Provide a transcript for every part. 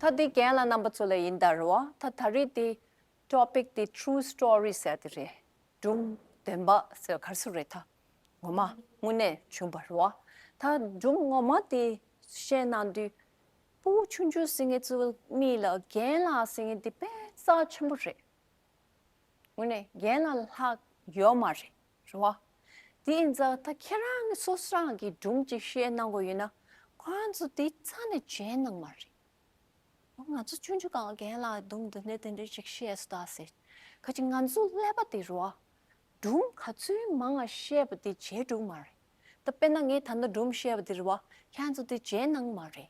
ད་འདི་རྒན་ལ་རྣམ་པ་ཚོ་ལ་ཡིན་ད་རེད་བ་ད་ད་རེས་འདི Topic འདི True Story ཟེར་ཏེ་རེད་འབྲུམ་བདེན་པ་ཟེར་གར་སོ་རེད་ད་ངོ་མ་དངོས་གནས་བྱུང་བ་རེད་བ་ད་འབྲུམ་ངོ་མ་འདི་བཤད་གནང་དུས་སྤུ་བོ་ཆུང་ཆུང་ཟེར་ངེད་ཚོ་གཉིས་ལ་རྒན་ལགས་ཟེར་ངེད་འདི་དཔེ་རྩ་ཆེན་པོ་རེད་དངོས་གནས་རྒན་ལ་ལྷག་ཡོད་མ་རེད། རེད་བ། དེ་ཡིན་ཙང་ད་ཁྱེད་རང་གི་སོ་སྲང་གི་སྒྲུང་ཅིག་བཤད་གནང་དགོས་ཡོད་ན་ཁོང་ཚོ་དེ་ཚ་ནས་མཇལ་གནང་མ་རེད། ང་ཚོ་ཆུང་ཆུང་གང་རྒན་ལ་སྡུམ་དུ་གནས་དེ་འདྲ་ཅིག་བཤད་སུ་གདའ་ཟེར། ཁ་ཅིག་ང་ཚོ་ཀླད་པ་དེ་རུ་བ། སྒྲུང་ག་ཚོད་མང་ང་བཤད་པ་དེ་མཇལ་འགྲོ་གི་མ་རེད། ད་དཔེར་ན་ངས་ད་ལྟ་སྒྲུང་བཤད་པ་དེ་རུ་བ་ཁྱེད་ཚོ་དེ་མཇལ་གནང་མ་རེད།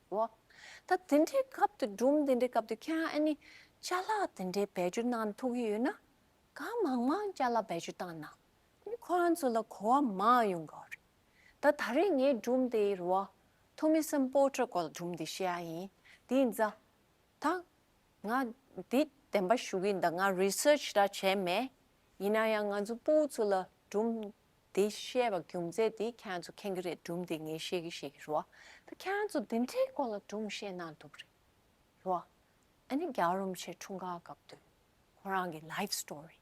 བ། ད་འདི་འདྲའི་སྐབས་འདི་སྒྲུང་འདི་འདྲའི་སྐབས་འདི་ཁྱེད་རང་ཨ་ནི་བཅའ་ལག་འདི་འདྲའི་བེད་སྤྱོད་གནང་ཐུབ་ཀྱི་ཡོད་ན་གང་མང་མང་བཅའ་ལག་བེད་སྤྱོད་བཏང་ན་ནི་ཁོ་རང་ཚོ་ལ་གོ་བ་མང་ཡོང་གི་རེད། ད་ད་རེས་ངས་སྒྲུང་འདི་རུ་བ་ཐོ་མི་སམ་པོ་ཏྲ་ཀོ་ལ་སྒྲུང་འདི་བཤད་ཡ་ཡིན་དེ་ཡིན་ཙང། ད་ང་འདི་བདེན་པ་ཞུ་གི་འདུག་ང research ད་བྱས་མེད་ཡིན་ན་ཡང་ང་ཚོ་སྤུའུ་ཚོ་ལ་སྒྲུང་དེ་བཤད་པ་རྒྱུ་མཚན་དེ་ཁྱེད་ཚོ་མཁྱེན་གྱི་རེད་སྒྲུང་དེ་ངས་ཤེས་གི་ཤེས་གི་རོ། ད་ཁྱེད་ཚོ་དེ་འདྲའི་སྐོར་ལ་སྒྲུང་བཤད་གནང་འདུག་གི་རེད་རོ། ཨ་ནི་རྒྱལ་རོམ་ཆེ་འཁྲུངས་སྐར་སྐབས་དུས་ཁོ་རང་གི life story།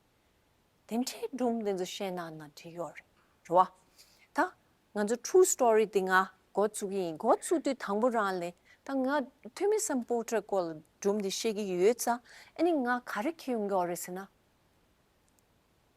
དེ་འདྲའི་སྒྲུང་དེ་ཚོ་བཤད་གནང་ན་འགྲིག་ཡོད་རེད་རོ། ད་ང་ཚོ true story དེ་ང་འགོ་བཙུགས་ཀྱི་ཡིན་འགོ་བཙུགས་དུས་དང་པོ་རང་ལས་ད་ང་ཐོན་མི་སམ་པོ་ཏྲའི་སྐོར་ལ་སྒྲུང་དེ་བཤད་གི་ཡོད་ས་ཨ་ནི་ང་ག་རེ་ཁྱེར་ཡོང་གི་ཡོད་རེད་ཟེར་ན།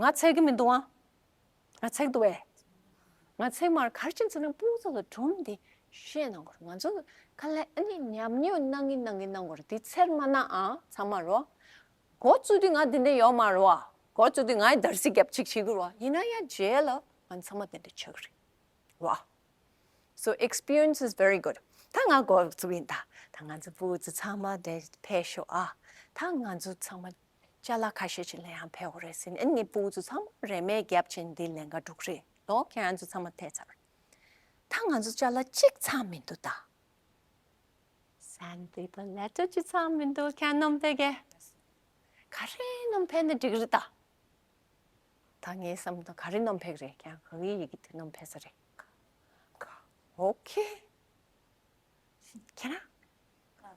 ང་འཚེག་གི་མི་འདུག་ཨང། ང་འཚེག་འདུག་བས། ང་འཚེག་མར་གར་ཕྱིན་ཚུལ་ནི་སྤུན་གཙོ་ལ་སྒྲུང་འདི་བཤད་གནང་གོ་རོགས་ང་ཚོ་ག་ལ་ཨཱ་ནི་ཉམས་མྱོང་གནང་གིན་གནང་གིན་གནང་གོ་རོགས་འདི་ཚེར་མ་གནང་ཨང་ཚང་མ་རོགས། འགོ་བཙུགས་དུས་ང་དེ་འདྲ་ཡོད་མ་རོགས་ཨ། འགོ་བཙུགས་དུས་ང་ཡི་དར་སྲི་རྒྱབ་ཅིག་བྱེད་གི་རོགས་ཡིན་ན་ཡང་རྗེས་ལ་ང་ཚང་མ་དེ་འདྲ་བྱེད་གི་རེད་རོགས། སོ experience is very good ད་ང་འགོ་བཙུགས་ཡིན་ད་ད་ང་ཚོ་སྤུན་གཙོ་ཚང་མ་འདྲ་ཕེབས་ཤོག་ཨ་ད་ང་ཚོ་ཚང་མ་བཅའ་ལ་ཁ་ཤས་ཀྱི་ལན་ཡང་ཕེའོ་རེད་ཟེར་ནས་ནི་པུའུ་ཙུ་ཚང་མ་རེས་མེད་བརྒྱབ་ཅིང་འདི་ལན་འགའ་འགྲུག་རེད་དོ་ཁྱེད་ཚོ་ཚང་མ་ཐལ་ཚར། ད་ང་ཚོ་བཅའ་ལ་གཅིག་ཚང་མི་འདུག་ད། སན་ཏི་དང་ལེ་ཏོ་གཅིག་ཚང་མི་འདུག་ཁྱེད་ནོམ་ཕེ་རྒྱལ། ག་རེ་ནོམ་ཕེ་ནི་འགྲིག་རེད་ད། ད་ངའི་བསམ་བློ་དང་ག་རེ་ནོམ་ཕེ་རེད་ཁྱེད་རང་གི་ཡི་གེ་དེ་ནོམ་ཕེ་ས་རེད། ཁ། ཁ། ཨོ་ཁེ། ཁྱེད་རང། ཁ།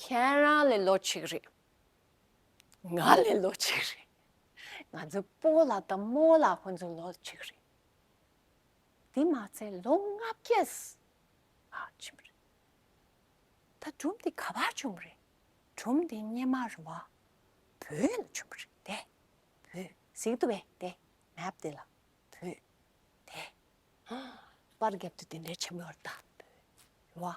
ཁྱེད་རང་ལས་ལོ་གཅིག་རེད། ང་ལས་ལོ་གཅིག་རེད། ང་ཚོའི་སྤོ་ལ་དང་རྨོ་ལ་ཁོང་ཚོའི་ལོ་གཅིག་རེད། དེ་མ་ཚད་ལོ་ལྔ་བརྒྱས་ཨ་ཅི་མི་རེད། ད་སྒྲུང་འདི་ག་པར་བྱུང་བ་རེད། སྒྲུང་འདི་སྙེ་མ་རུ་བ་བོད་ལ་བྱུང་བ་རེད་དེ། བོད་གཟིགས་འདུག་བས་དེ་མེབ་དེ་ལ་བོད་དེ། པར་རྒྱབ་ཏུ་དེ་འདྲའི་ཆེན་པོ་ཡོད་རེད་ད་བོད་རུ་བ་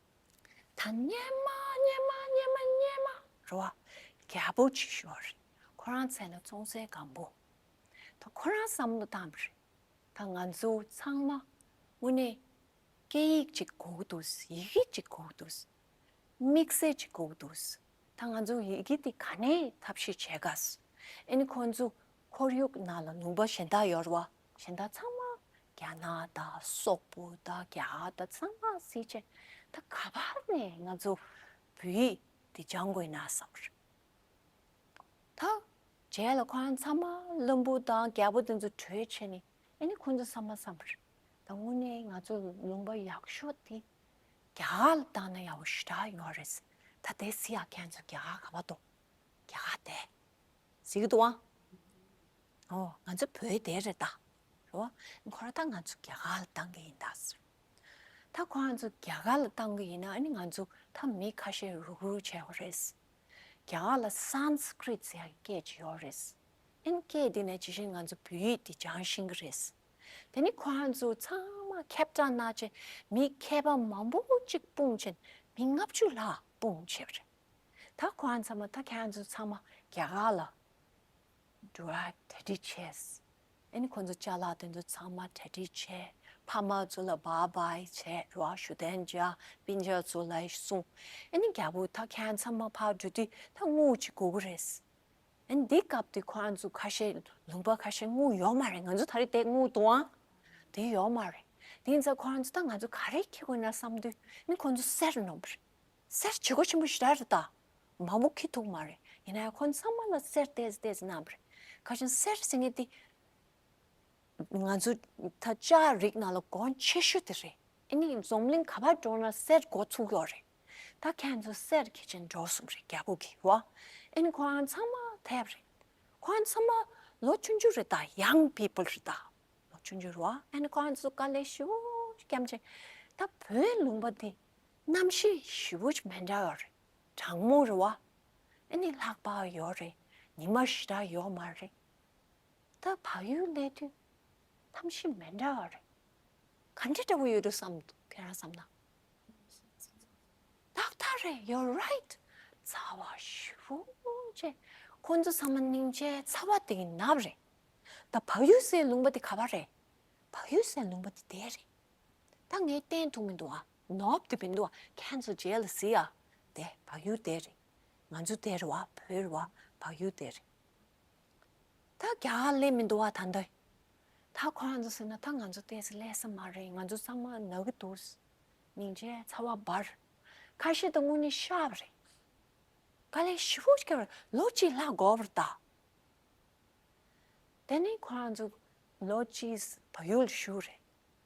དང་སྙེ་མ་སྙེ་མ་སྙེ་མ་སྙེ་མ་རུ་བ་རྒྱ་པོ་ཆེ་ཞུ་བ་རེད་ཁོ་རང་ཚེ་ན་ཙོང་ཚའི་སྒམ་པོ་དང་ཁོ་རང་བསམ་བློ་བཏང་བ་རེད་ད་ང་ཚོ་ཚང་མ་དངོས་གནས་སྐད་ཡིག་ཅིག་གོ་གི་འདུག་ཡི་གེ་ཅིག་གོ་གི་འདུག་དམིགས་བསལ་ཅིག་གོ་གི་འདུག་ད་ང་ཚོ་ཡི་གེ་དེ་ག་ནས་ཐབས་ཤེས་བྱེད་དགའ་ཨེ་ནི་ཁོང་ཚོ་ཁོར་ཡུག་ནང་ལ་ནུང་པ་གཞན་དག་ཡོད་རུ་བ་གཞན་དག་ཚང་མ་རྒྱ་ནག་དང་སོག་པོ་དང་རྒྱ་དག་ཚང་མ་སྲིད་ཅེས་ད་ག་བར་ནས་ང་ཚོ་བོད་ཡིག་འདི་སྦྱང་དགོས་ན་བསམ་རེད། ད་རྗེས་ལ་ཁོ་རང་ཚང་མ་བླུན་པོ་དང་རྒྱལ་པོ་དེ་ཚོ་གྲོས་བྱས་ནས་ཨེ་ནི་ཁོ་ཚོ་བསམ་མ་བསམ་རེད། ད་དངོས་གནས་ང་ཚོ་ལུང་པ་ཡག་ཤོས་དེ་རྒྱ་གར་ལ་བཏང་ན་ཡག་པོ་ཞེ་དྲག་ཡོད་རེད། ད་དེ་སྲིད་ཡག་མཁན་ཚོ་རྒྱ་གར་ག་བ་དང་རྒྱ་གར་དེ། ཟིག་ཏུ་ཨང། ཨོ། ང་ཚོ་བོད་སྡེ་རེད་ད། ཨོ། ཁོ་རང་ད་ང་ཚོ་རྒྱ་གར་ལ་བཏང་གི་ཡིན་ད། ད་ཁོ་རང་ཚོ་རྒྱ་གར་ལ་བཏང་གི་ཡིན་ན་ཨ་ནི་ང་ཚོ་ད་མི་ཁ་ཤས་རུག་རུག་བྱས་བ་རེད། རྒྱ་གར་ལ Sanskrit ཟེར་ཡག་གི་སྐད་ཅིག་ཡོད་རེད། ཨན་སྐད་འདི་ནས་ཇི་བཞིན་ང་ཚོ་བོད་ཡིག་འདི་སྦྱང་བཞིན་གི་རེད། དེ་ནི་ཁོ་རང་ཚོ་ཚང་མ་ཁྱབ་བསྒྲགས་གནང་བྱས་མི་མཁས་པ་མང་པོ་གཅིག་སྤུངས་བྱས་མི་ལྔ་བཅུ་ལྷག་སྤུངས་བྱས་བ་རེད། ད་ཁོང་ཚང་མ་ད་ཁྱེད་ཚོ་ཚང་མ་རྒྱ་གར་ལ་འགྲོ་བ་གྲ་སྒྲིག་བྱས། ཨེ་ནི་ཁོང་ཚོ་བཅའ་ལག་དེ་ཚོ་ཚང་མ་གྲ་སྒྲིག་བྱས་ཕ་མ་ཚོ་ལ་བ་བའི་བྱས་རོགས་ཞུ་དན་རྒྱ་དཔེ་འཇགས་ཚོ་ལ་གསུངས་ཨེ་ནི་རྒྱ་བོ་ད་ཁྱེད་ཚང་མ་ཕར་འགྲོ་དུས་ད་དངུལ་གཅིག་དགོས་ཀྱི་རེད། ཨེ་ནི་འདི་སྐབས་དེ་ཁོང་ཚོ་ཁ་ཤས་ལུང་པ་ཁ་ཤས་དངུལ་ཡོད་མ་རེད་ང་ཚོ་ད་རེས་དེ་དངུལ་དུའང་དེ་ཡོད་མ་རེད་དེ་ནི་ད་ཁོང་ཚོ་ད་ང་ཚོ་ག་རེ་ཁྱེད་དགོས་ན་བསམ་དུས་ཨེ་ནི་ཁོང་ཚོ་སེར་ནོ་བར། སེར་བྱེས་སྒོ་ཆེན་པོ་བཞི་དག་རེད་ད། མ་མོ་ཁི་ཐུག་མ་རེད་ཡིན་ནའི་ཁོ་ཚང་མ་ལ་སེར་བལྟས་བལྟས་ཟེར་ནའང་རེད། ཁ་ཆེམས་སེར་ཟེར་ངེས་ཏེ། ང་ཚོ་ད་ལྕགས་རིགས་ནང་ལ་སྒོ་ཆེ་ཤོས་དེ་རེད་ཨེ་ནི་འཛོམས་གླིང་ག་པར་འགྲོ་ན་སེར་སྒོ་ཚུགས་ཡོད་རེད། ད་ཁྱེད་ཚོ་སེར་གྱི་ཆེད་འགྲོ་གསུངས་རེད་རྒྱ་བོད་ཀྱི་ཡོ་ཨ་ཨེ་ནི་ཁོ་རང་ཚང་མ་དེ་རེད། ཁོ་རང་ཚང་མ་ལོ་བཅུ་འགྱུར་རེད་ད Young People རེད་ད། ལོ་བཅུ་འགྱུར་ཡོ་ཨ་ཨེ་ནི་ཁོ་རང་ཚོ་དཀའ་ལས་ཤུགས་རྒྱམ་ཆེ། ད་བོད་ལུང་པ་དེ་རྣམ་ཤེས་བཞི་པོ་མི་འདྲ་བ་རེད། གྲང་མོ་རེད་བ། འདི་ནི་ལྷག་བག་ཡོད་རེད་ཉི་མ་ཞེ་དྲག་ཡོད་མ་རེད། ད་བག་ཡོད་གནས་དུས་རྣམ་ཤེས་མི་འདྲ་བ་རེད། ག་འདྲ་འདྲ་བོ་ཡོད་དུ་བསམ་འདུག་ཁྱེད་རང་བསམ་ན། ཏག་ཏག་རེད You're right རྩ་བ་བཞི་པོ་ཅེས་ཁོང་ཚོ་ཚང་མ་སྙིང་རྗེའི་རྩ་བ་དེ་ཡིན་ནབས་རེད། ད་བག་ཡོད་ཟེར་ལུང་པ་དེ་ག་བ་རེད། བག་ཡོད་ཟེར་ལུང་པ་དེ་དེ་རེད། ད་ངས་བསྟན་འདུག་མི་འདུག་ཨ། ནོབ་ཏུ་མི་འདུག་ཁྱེད་ཚོ་རྗེས་ལ་གཟིགས་ཨ། དེ་བག་ཡོད་དེ་རེད། ང་ཚོ་དེ་རེད་བ་བོད་རེད་བ་བག་ཡོད་དེ་རེད། ད་རྒྱ་ལས་མི་འདུག་བ་ད་འདི། ད་ཁོ་རང་ཚོ་ཟེར་ན་ད་ང་ཚོ་དེ་ཟེར་ལས་ས་མ་རེད་ང་ཚོ་ཚང་མ་ནག་གི་འདུག། སྙིང་རྗེ་ཚ་བ་འབར། ཁ་ཤས་དང་དངོས་གནས་ཤ་བ་རེད། ག་ལས་ཤི་བོ་ཞིག་གིས་ལོ་གཅིག་ལྷག་དགོ་བར་གདའ། དེ་ནས་ཁོ་རང་ཚོ་ལོ་གཅིག་བག་ཡོད་ལ་ཞུགས་རེད།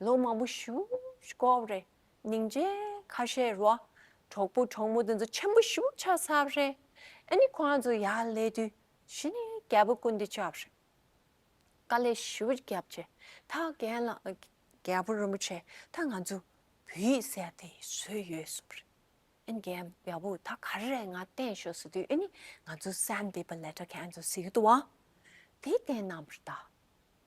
ལོ་མང་པོ་བཞུགས་སྐོར་རེད། སྙིང་རྗེ་ཁ་ཤས་རོགས། གྲོགས་པོ་གྲོགས་མོ་དེ་ཚོ་ཆེན་པོ་བཞུགས་ཆ་སར་རེད། ཨ་ནི་ཁོང་ཚོ་ཡར་ལས་དུས་གཞི་ནས་རྒྱལ་པོ་ཀུན་བདེ་ཆབ་རེད། དཀའ་ལས་ཞུ་རྒྱབ་ཆེ་ད་རྒན་ལགས་རྒྱལ་པོ་རིན་པོ་ཆེ་ད་ང་ཚོ་བོད་ཡིག་གསལ་དེ་བཟོས་ཡོད་གསུངས་རེད། ཨ་ནི་རྒན་རྒྱལ་པོ་ད་ག་རེ་རེད་ང་བསྟན་ཤོག་ཟེར་དུས་ཨ་ནི་ང་ཚོ་གསལ་འདེབས་པ་ལས་གྲ་མཁན་ཚོ་ཟེར་གི་འདུག་བ་དེ་བསྟན་གནང་བར་གདའ།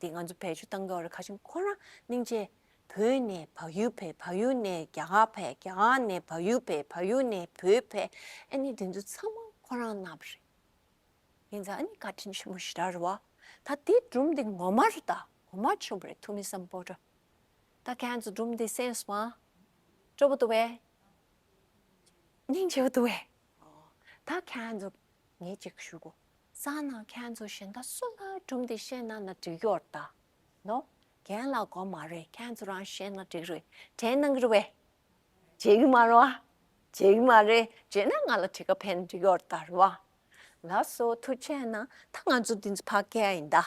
དེ་ང་ཚོ་བོད་ཆུ་བཏང་སྐབས་རེད་ཁ་ཆུ་ཁོ་རང་གླིང་ཆེ། བོད་ནས་བག་ཡོད་བོད་བག་ཡོད་ནས་རྒྱ་གར་བོད་རྒྱ་གར་ནས་བག་ཡོད་བོད་བག་ཡོད་ནས་བོད་བོད་ཨེ་ནི་དེ་ཚོ་ཚང་མ་ཁོ་རང་རྣམས་པ་རེད། ངས་མཛའ་ཨེ་ནི་བཀའ་དྲིན་ཆེན་པོ་ཞེ་དྲག་རེད་བ། ད་དེ་སྒྲུང་འདི་ངོ་མ་རེད་ད་ངོ་མ་ཆོས་པ་རེད་ཐུགས་མི་བསམ་པོ་འདྲ། ད་ཁྱེད་ཚོ་སྒྲུང་འདི་གསན་སོང་ང། སྤྲོ་པོ་འདུག་བས། སྙིང་རྗེ་བོ་འདུག་བས། ད་ཁྱེད་ཚོ་ངས་ཅིག་ཞུ་དགོས། གསང་སྔགས་མཁན་ཚོ་གཞན་དག་སུ་ལ་སྒྲུབ་འདི་ཤེས་ན་ན་འགྲིག་གི་འོར་ད་ནོ། རྒན་ལགས་མགོ་མ་རེད་མཁན་ཚོ་རང་ཤེས་ན་འགྲིག་རེད་དྲན་གནང་རི་བས། བརྗེད་གི་མ་རེད་བ། བརྗེད་གི་མ་རེད་བརྗེད་ན་ང་ལ་བྲི་ཁ་ཕན་འགྲིག་གི་འོར་ད་རི་བ། ལགས་སོ་ཐུགས་ཆེ་ན་ད་ང་ཚོ་འདི་ཚོ་ཕ་སྐད་ཡིན་ད།